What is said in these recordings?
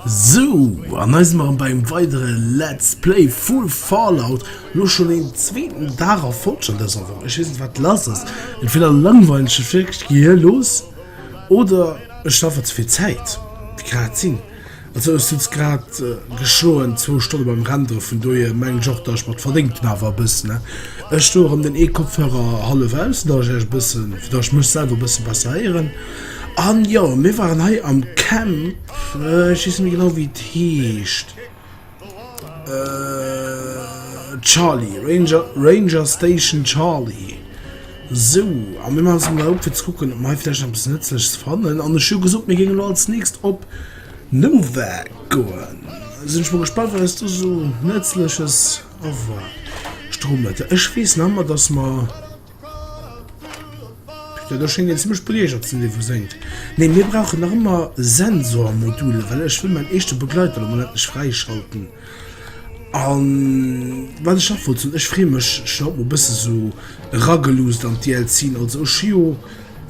Sou, an eis mer beim weidere Let's Play Full Fallout lo schon den zweeten Dag a Folge an dëser Woch. Ech weess net, wat lass ass. Entweder langweilen ech mech wierklech, gehir los oder ech schaffen ze vill Zäit. Wéi kann dat sinn? Also ech sutz grad geschloen zwou Stonne beim Renderen, vun dohier mengen ech och dat ech mat verdéngt hun awer e bëssen ne. Ech do erëm den ee Kopfhörer hallef aus fir dat ech iech bëssen, fir dat ech mech selwer bëssen besser héieren. An jo mir waren hei am Camp, ech weess net méi genau wéi et heescht. Äh, Charlie, Ranger, Ranger Station Charlie. So, a mir machen es mal op, fir zu gucken, ob mir vielleicht etwas Nützliches fannen. An ich habe gesagt, wir gehen als nächstes op Nova gehen. Sind ich mal gespannt, was du so Nützliches erwartet. Strohmütter. Ich weiß noch immer, dass wir... Ja, da schéngt een zimmlech beleeëgert ze sinn, dee wou séngt. Nee, mir brauchen nach ëmmer Sensormodule, well ech wëll mäin eischte Begleiter lo mol endlech fräischalten. An wat ech nach wollt soen, ech freeë mech schonn haut mol e bësse sou erageluusst an d'DLCen. Also ech hu jo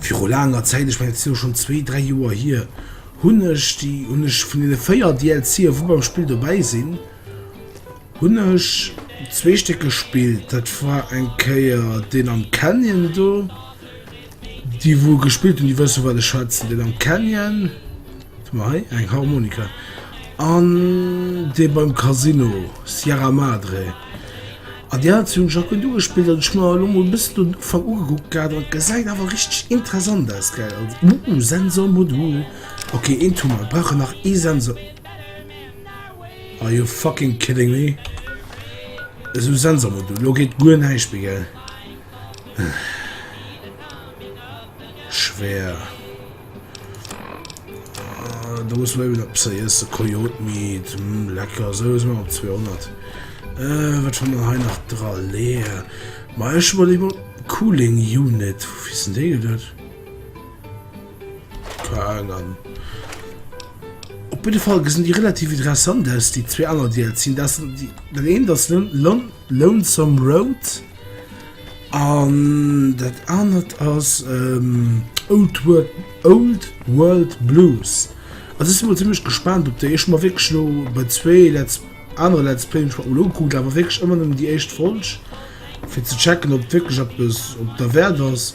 viru laanger Zäit, ech mengen dat si lo schonn zwee, dräi Joer hier, hunn ech déi hunn ech vun deene véier DLCen, wou beim Spill dobäi sinn, Hunn ech zwee Stéck gespillt. Dat war eng Kéier deen am Canyon do. Déi wou gespillt hun, déi wësse wat ech schwätzen. Den am Canyon hei eng Harmonika an dee beim Casino Sierra Madre. An Dir hat hunn ech och gëtt ugespillt an ech hu mer elo mol e bëssen den Ufank ugekuckt gehat an et gesäit awer richteg interessant aus, gell? Sensor Modul, okay eent hu mer, et brauch en nach ee Sensor. Are you fucking kidding me? Esou Sensor mat du, lo geet guer näischt méi gell? Schwer. Ah, da muss man op ze iees de Kojot miet hm, lecker so is man op 200. Äh, wat schon ha nach dra leer. Ma ech wol iwwer Cooling Unit, wofir sinn dee geduet? Fraen. Op jidde Fall gesinn déi relativ interessant aus, déi zwee aner DLCen. Dat sinn déi, den eent ass Lon Lon Lonesome Road an dat anert ass ähm, Old World Old World Blues. Also ech si mol zimmlech gespaant op déi. Ech hu mer wierklech elo bei zwee Let's anere Let's Playen ech mer mol ugekuckt, awer wierklech ëmmer nëmmen déi éischt Folg, fir ze checken, ob wierklech eppes op derwäert ass.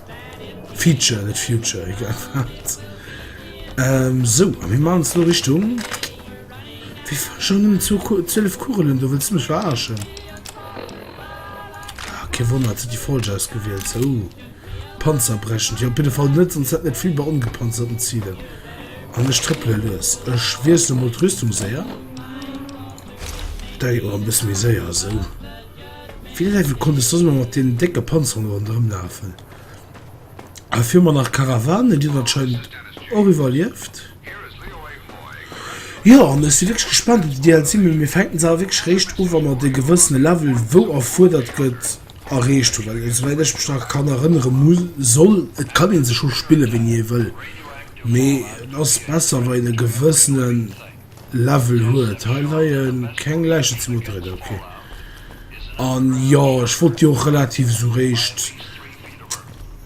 Feature net Future egal wat. Ähm, so a mir machen es lo Richtung Wie war schon um zu 12 Kugelen du willst mich verarschen? Ah, kein Wunder, hat sie die falsch ausgewählt. So. Uh. Panzerbrechend. Ja, op jeden Fall net, sonst hätten net viel bei ungepanzerten Zielen. An ech trëppele los. Ech wiessle mol d'Rüstung séier. Dei och e bësse méi séier, so. Wéi leiwe konnt ech soss nach mat deenen décke Panzerunge ronderëm lafen? A fir mer nach Karawane, déi hunn anscheinend och iwwerlieft. Jo, an ech si wierklech gespaant op de DLC, mee mir fänken se awer wierklech réischt u wa mer de gewëssene Level, wou erfuerdert gëtt, erreecht hunn. Well esouwäit ech mech nach kann erënnere mu soll, et kann ee se scho spille wéini ee wëll, mee et ass besser wa een e gewëssenen Level huet hei leien keng Läichen ze Motorräder ok an jo ech wollt jo och relativ esou réischt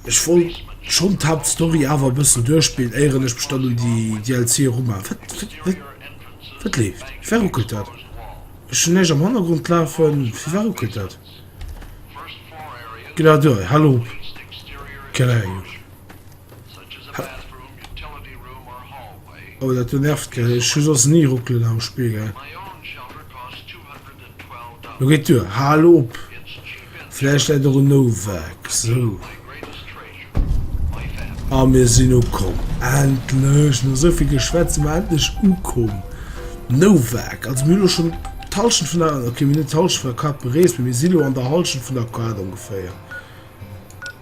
ech wollt schonn d'Haupt Story awer bëssen duerchspillen éieren ech mech dann un déi DLC eruma wat leeft fir wat ruckelt dat ech hunn näischt am Hannergrond lafen fir wat ruckelt dat ginn dat duer hal op. Oh dat do nervt gell, ech hu soss ni Ruckelen am Spiegel. Lo geet duer, hal op! Vläicht läit och en Nowak, sou. A mir sinn ukomm, endlech! No souvill Geschwätz sinn mer endlech ukomm. Nowak, also mir hu lo schonn d'Hallschent vun der, okay mir hunn net d'Hallschent vun der Carte berees, mee mir si lo an der Hallschent vun der Carte ongeféier.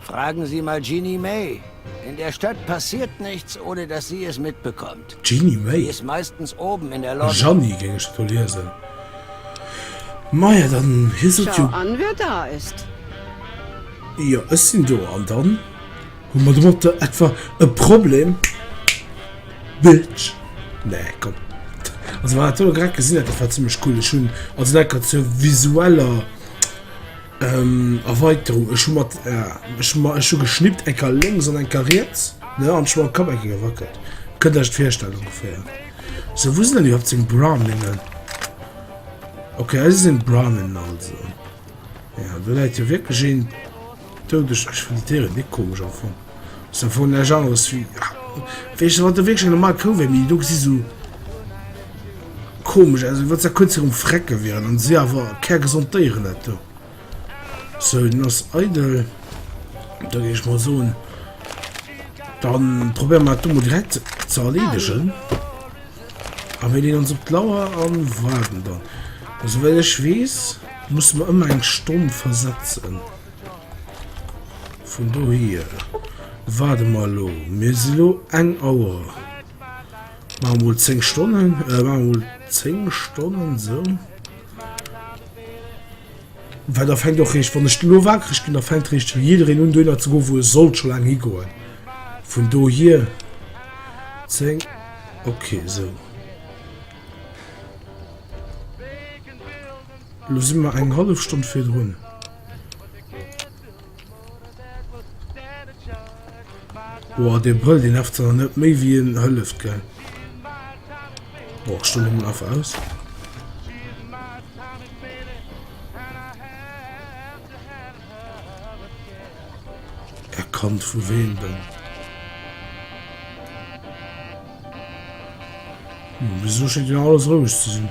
Fragen Sie mal Jeanny May. In der Stadt passiert nichts, ohne dass sie es mitbekommt. Jeanny May? Sie ist meistens oben in der Lobby. Jeanny géing ech et do liesen. Maja, dann hiess et jo. Schau an, wer da ist! Jo, ech sinn do. An dann? Hu mer domatter etwa e Problem, Bitch? Nee, komm. Also, wat ech elo grad gesinn hat, dat war zimmlech cool. Ech hunn also, dat grad zur visueller. Ähm, Erweiterung, ech hu mat, äh, ech ma, ech hu geschnippt, eng Kar lénks an eng Kar riets, ne, an ech hu mam Kapp eng Kéier gewackelt. Kënnt Iech dat virstellen, ongeféier. So, wou sinn dann iwwerhaupt seng Browningen? Okay, hei si seng Browningen also. Ja, do läit jo wierklech een doudeg. Ech fënn déi Déieren ni komesch am Fong. Se vu nech aus wie wéichte wat de Wee schon normal kou wéi mi du gesi so komesch also wat ze kun um frecke wieren an se awer ker gesond déieren net do so nass eidel da gi ich mal so dann probier mal dumme direkt ze erledegen a wenn den ons op d'lauer an warden dann also well ich wees muss man ëmmer eng stonn versetzen Vun dohier waarde mer elo. Mir si lo eng Auer. Maache mer mol 10 Stonnen. Maache mer mol 10 Stonnen, esou. Well da fänkt och riicht, wann ech elo waakreg ginn, da fänkt riicht jiddereen un dohinner ze goen, wou e sollt scho laang higoen. Vun dohier 10, okay, esou. Elo si mer eng hallef Stonn virdrun. Boah, dee brëllt, dee nervt zwar net méi wéi en hëlleft, gell? Boah, ech stoen emol einfach aus. Erkannt vu wem denn? Hm, wieso schéngt jo alles roueg ze sinn?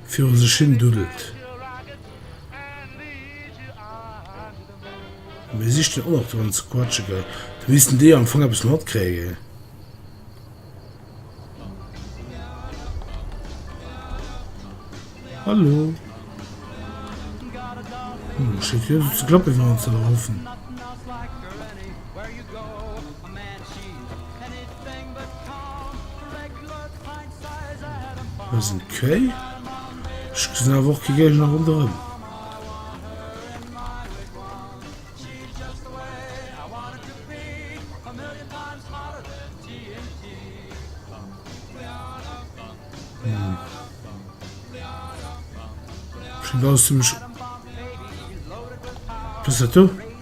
viru sech hin duddelt. Mir sichten och nach dran ze quatschen, gell? Da missten déi jo am Fong eppes matkréien. Hallo. Hm, schéngt jo ze klappen, wéi mer ons dat erhoffen. Das ist okay. Ich gesinn awer och ke Géigner ronderëm. Hm. Aus dem Sch Was dat do?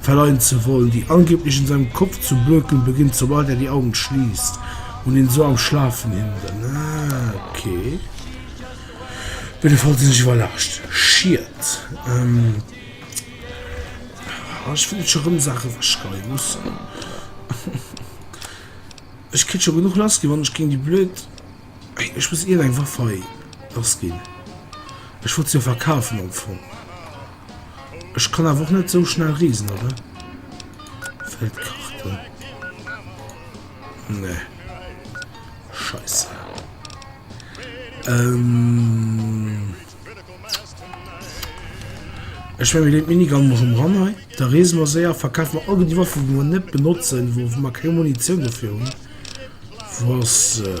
verleien ze wollen, déi angeblich in seinem Kopf zu bökeln beginnt, sobald er die Augen schließt und ihn so am Schlafen hindern. Ah, okay. Op jeden Fall sinn ech iwwerrascht. Schied. Ähm, ah, ich finde schon rëm Sachen verschreiben müssen. Ech kritt schon genug lass ginn, wann ech gegen die blöd... Ey, ech muss irgendeine Waff hei lass ginn. Ech wollt sie ja verkaufen am Fong. Ech kann awer och net sou schnell reesen, oder? Fällt d'Karte. Ne. Scheiße. Ähm. Ech will den Minigun mal schon ran hei. Da reesen wir sehr, verkaufen wir all die Waffen, die wir nicht benutzen, wo wir keine Munition dafür haben. Was. Äh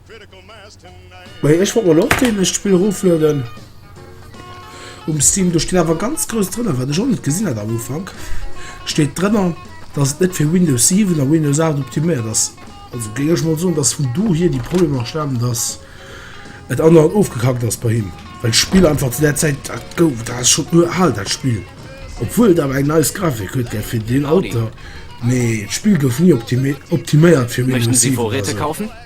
Bei ech wollt mer lo och deen eischt Spill rooflueden um Steam. Do steet awer ganz grouss drënner, wat ech och net gesinn hat am Ufank, steet drënner dass et net fir Windows 7 a Windows 8 optiméiert ass. Also géing ech mol soen, dass vun dohier déi Problemer stamen, dass et andauernd ofgekackt ass bei him, well d'Spill einfach zu där Zäit dat gouf, dat ass schonn uralt dat Spill, obwuel et awer eng nice Grafik huet gell fir deen Alter, mee d'Spill gouf ni optiméiert fir Windows 7 oder esou.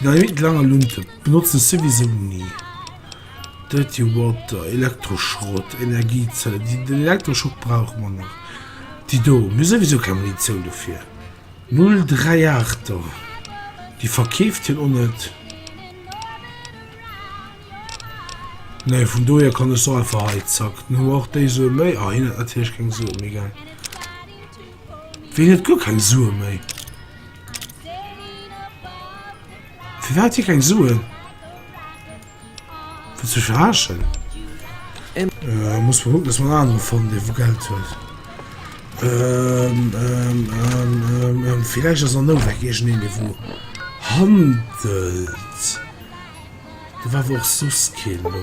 Dynamit langer Lunte benotzen souwisou ni. Dirty Water, Elektroschrott, Energiezellen, déi den Elektroschock brauche mer nach, déi do, mir hu souwisou keng Munitioun dofir. 038 er, déi verkeeft hien och net. Nee, vun dohier kann ech se och einfach hei, zack. Dann hu mer och déi Sue méi. Ah, hien huet natierlech keng Sue méi, gell. Wien huet guer keng Sue méi? Fir wat si keng Suen? Fir ze verarschen? Äh, muss man gucken, dass man andere fannen, dee wou Geld huet. Ähm, ähm, ähm, ähm, ähm, vielleicht ass an Nowek irgendeen, dee wou handelt. Da war awer och soss keen do.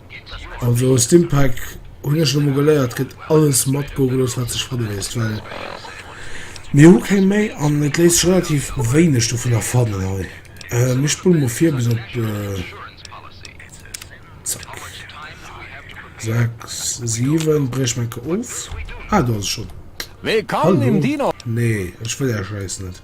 Also aus dem Pack hunn ech elo mol geléiert, gëtt alles mat go gelooss wat sech fanne léisst, well mir hu keng méi an et léisst sech relativ wéineg dovunner fannen hei. Mir spullen mol vir bis op zack 6 7, bréich meng Ke of, ah do ass e schonn. Hallo, nee ech wëll är Schäiss net.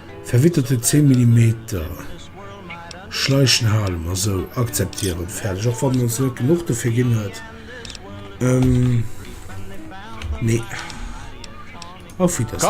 Verwitterte 10 Millimeter schleichen hale mer sou, akzeptieren, fäerdeg. Och wann en ons net genuch dofir ginn huet, mee auf Wiedersehen.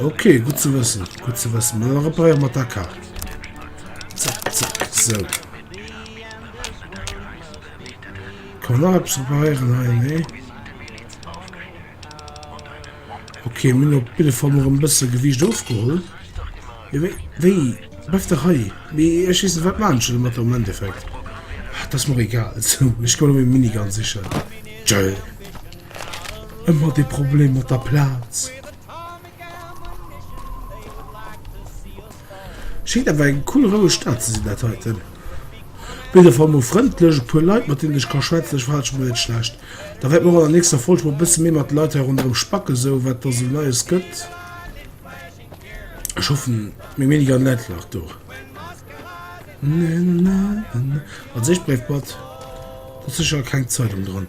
Ok gut ze wëssen gut ze wëssen Mä da reparéiere mer d'Aker. Zack zack sou. Kann nach eppes reparéieren hei nee. Ok minn op bidde Fall mer en bësse Gewiicht ofgeholl. Wéi wéi bleif de hei Mee ech weess net wat maachen ech elo mat der am Endeffekt. Ah, 't ass mer egal. Sou ech goen op ee Minigun sichen. Tschö. ëmmer de Problem mat der Plaz. Schéngt awer eng cool roueg Stad ze sinn dat heiten. Op jidder Fall mol frëndlech, e puer Leit mat deenen ech ka schwätzen, ech verhale ech mech net schlecht. Da wäerte mer och an der nächster Folg mol e bësse méi mat de Leit hei ronderëm spacken, sou wat da sou Neies gëtt. Ech hoffen meng Mening an Leit nach do. Als éischt Bréifblatt, do ass sécher keng Zeitung dran.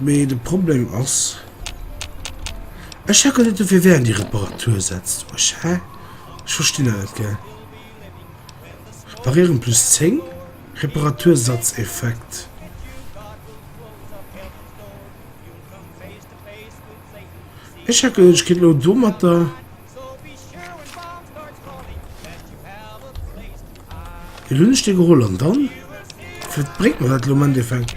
Mee de Problem ass, ech checken net dofir wéi eng déi Reparatur setzt ech, hä? Ech verstinn dat net gell. Reparieren plus 10, Reparatursatz-Effekt. Ech checken net, ech kéint elo domatter. Elo hunn ech dee geholl an dann? Firwat bréngt mer dat elo am Endeffekt?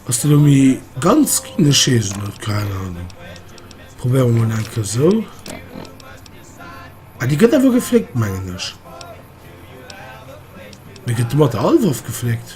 Ass deen elo méi ganz Kindescheessen? Huet keng Ahnung. Probéiere mer mol eng Kéier esou. Ah, déi gëtt awer gefléckt, mengen ech. Mee gëtt de mat der Hallwaff gefléckt?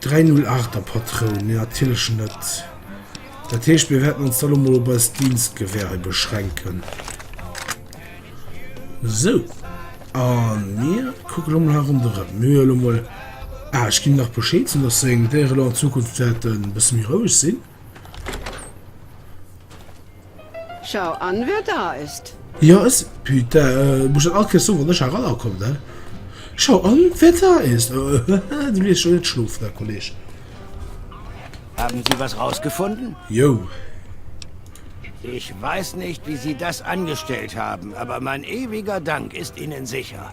308 der Patroun, nee natierlech net. Dat heescht, mir wäerten ons da lo mol op eis Dienstgewehre beschränken. Sou, a mir kucke lo mol hei ronderëm. Mir hu lo mol, ah, ech ginn him nach Bescheed, sou datt seng Déiere lo an Zukunft wäerten e bësse méi roueg sinn. Schau an wer da ist! Jo es putain muss ech dat all Kéiers soen wann ech eraner kommen he? Schau an wer da ist! Haha du lees scho net schlofen he Kolleg. Haben Sie was rausgefunden? Jou. Ich weiß nicht wie Sie das angestellt haben, aber mein ewiger Dank ist Ihnen sicher.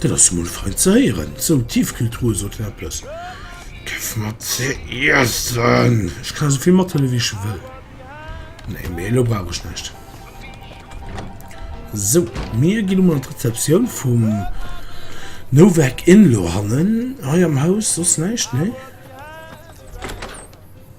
Dat ass mol fein ze héieren. Sou, Tiefkühltruhe soten eppes. Gëff mer ze iessen! Ech kann esouvill mathëlle wéi ech wëll. Nee, mee elo brauch ech näischt. Sou, mir ginn emol an d'Rezeptioun vum Novak Inn lo hannen. Hei am Haus soss näischt, nee?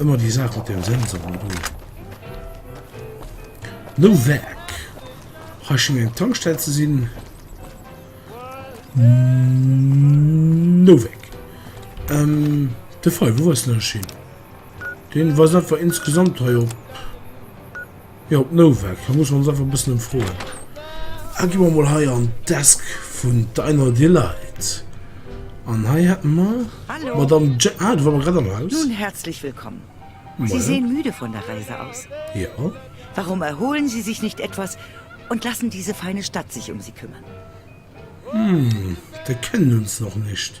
Ëmmer déi Saach mat den Sensoren do. No Werk. Hei schéngt eng Tankstell ze sinn. No Werk. Ähm, de Fall, wou ass den Schild? Den weist einfach insgesamt hei op. Jo, d'Nouvelle, da musse mer ons einfach e bëssen ëmfroen. A gi mer mol hei an d'Desk vun der Einhard Delight. An hei hätte mer d'Madame Je. Ah, do ware mer grad am Haus. Nun, herzlich willkommen. Sie sehen müde von der Reise aus. Jo. Warum erholen Sie sich nicht etwas und lassen diese feine Stadt sich um Sie kümmern? Hm, der kennt uns noch nicht.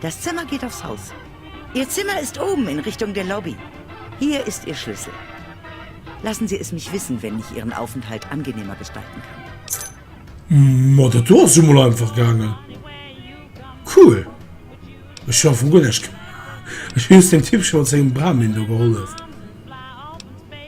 Das Zimmer geht aufs Haus. Ihr Zimmer ist oben in Richtung der Lobby. Hier ist Ihr Schlüssel. Lassen Sie es mich wissen, wenn ich Ihren Aufenthalt angenehmer gestalten kann. Ma dat do ass jo mol einfach gaangen. Cool. Ech hu am Fong guer näischt gemaach. Ech hu just dem Typ scho mat sengem Brahmin do gehollef.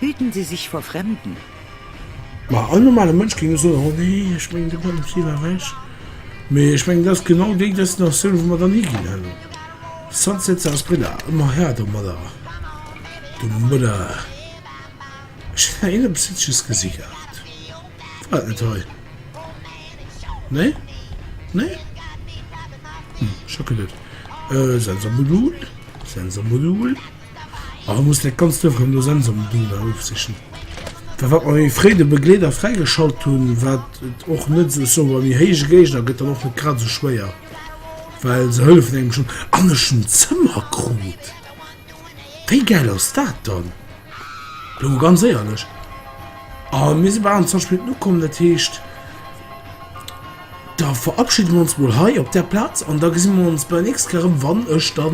Hüten Sie sich vor Fremden. Ma all normale Mënsch géing jo soen, oh nee, ech mengen do kann den Ziel erreecht. Mee ech mengen dat ass genau déi Destinatioun wou mer dann higinn. Hallo, Sunset Sarasbrilla, ëmmer Här domadder, domadder. Ech hunn hei een eppes Hitzches gesi gehat, war dat net hei? Nee? Nee? Hm, ech hocken net. Sensor Modul, Sensor Modul. An da muss dat Ganzt einfach elo Sense am Ding da ofsichen. Da wat mer wéi fréi de Begleeder fräigeschalt hunn, wat et och net esou, ech soe mol, déi héich Géigner gëtt dann och net grad esou schwéier, well se hëllefen engem schonn. An ech hunn d'Zëmmer krut! Wéi gäil ass dat dann? Elo mol ganz éierlech. A mir si bal an 20 Minutten ukomm, dat heescht, Da verabschiede mer ons mol hei op där Plaz an da gesi mer ons bei der nächst Kéier erëm, wann ech da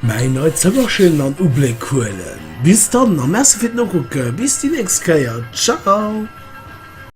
mäin neit Zëmmerchen an Ubléck huelen. Bis dann a Merci fir d'Nokucke. Bis déi nächst Kéier. Ciao!